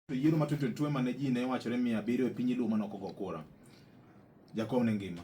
To yiero ma 2022 mane ji ne wachore mia abiriyo e piny Luo mane ok ogo kura. Jakom ne ngima.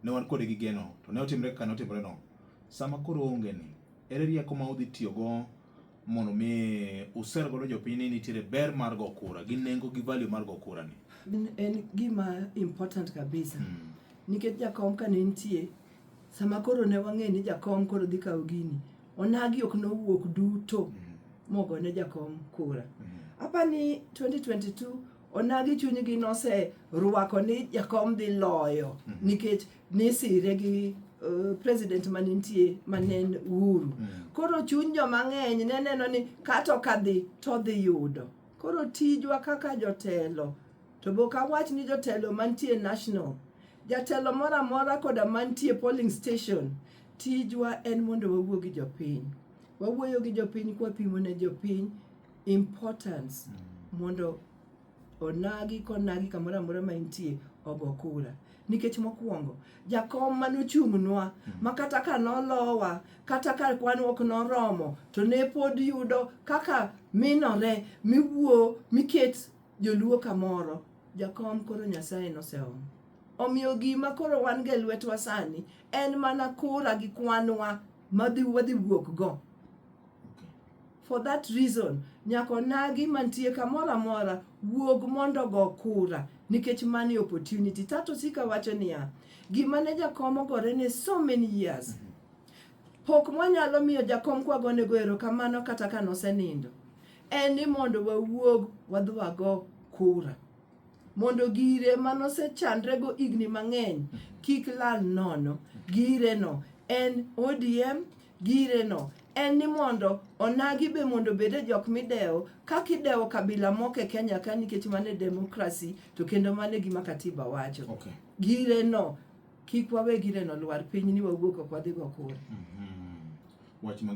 Ne wan kode gi geno. To ne otimre kaka ne otimre no. Sama koro onge ni, ere rieko ma udhi tiyogo mondo mi user godo jopiny ni nitiere ber mar go kura gi nengo gi value mar go kura ni? En gima important kabisa. Mm. Nikech jakom ka ne nitie, sama koro ne wang'e ni jakom koro dhi kawo gini, Onagi ok nowuok duto mm-hmm. mogone jakom kura. Mm-hmm. Apa ni 2022 onagi chunygi nose rwako ni jakom dhi loyo mm-hmm. nikech nisire gi uh, president manintie manen uru. Koro chuny jo mang'eny ne neno ni kato kadhi to dhi yudo. Koro tijwa kaka jotelo to bok awach ni jotelo mantie national jatelo moro amora koda mantie polling station Tijwa en mondo wawuo gi jopiny. Wawuoyo gi jopiny kwapimo ne jopiny importance mm. mondo onagi konagi kamoro amora ma intie ogo kura nikech mokwongo jakom mane ochung'nwa mm. ma kata ka nolowa kata ka kwan ok noromo to ne pod yudo kaka minore miwuo miket joluo kamoro jakom koro nyasaye noseomo Omiyo gima koro wan go e lwetwa sani en mana kura gi kwanwa madhi wadhi wuok go. For that reason, nyaka onagi mantie kamoro amora wuog mondo go kura nikech mani opportunity. Tato sika wacho niya, gima ne jakom ogore ne so many years. Pok mwanyalo miyo jakom kwagonego erokamano kata ka nosenindo en ni mondo wawuog wadhi wago kura. mondo gire ma nosechandrego higni mang'eny kik lal nono. Gireno en ODM, gireno en ni mondo onagi be mondo obed e jok midewo kaka idewo kabila moko e Kenya ka nikech mano e demokrasi to kendo mano e gima katiba wacho. Okay. Gireno kik wawe gireno lwar piny ni wawuok ok wadhi go kura. Mhm. Wach mangima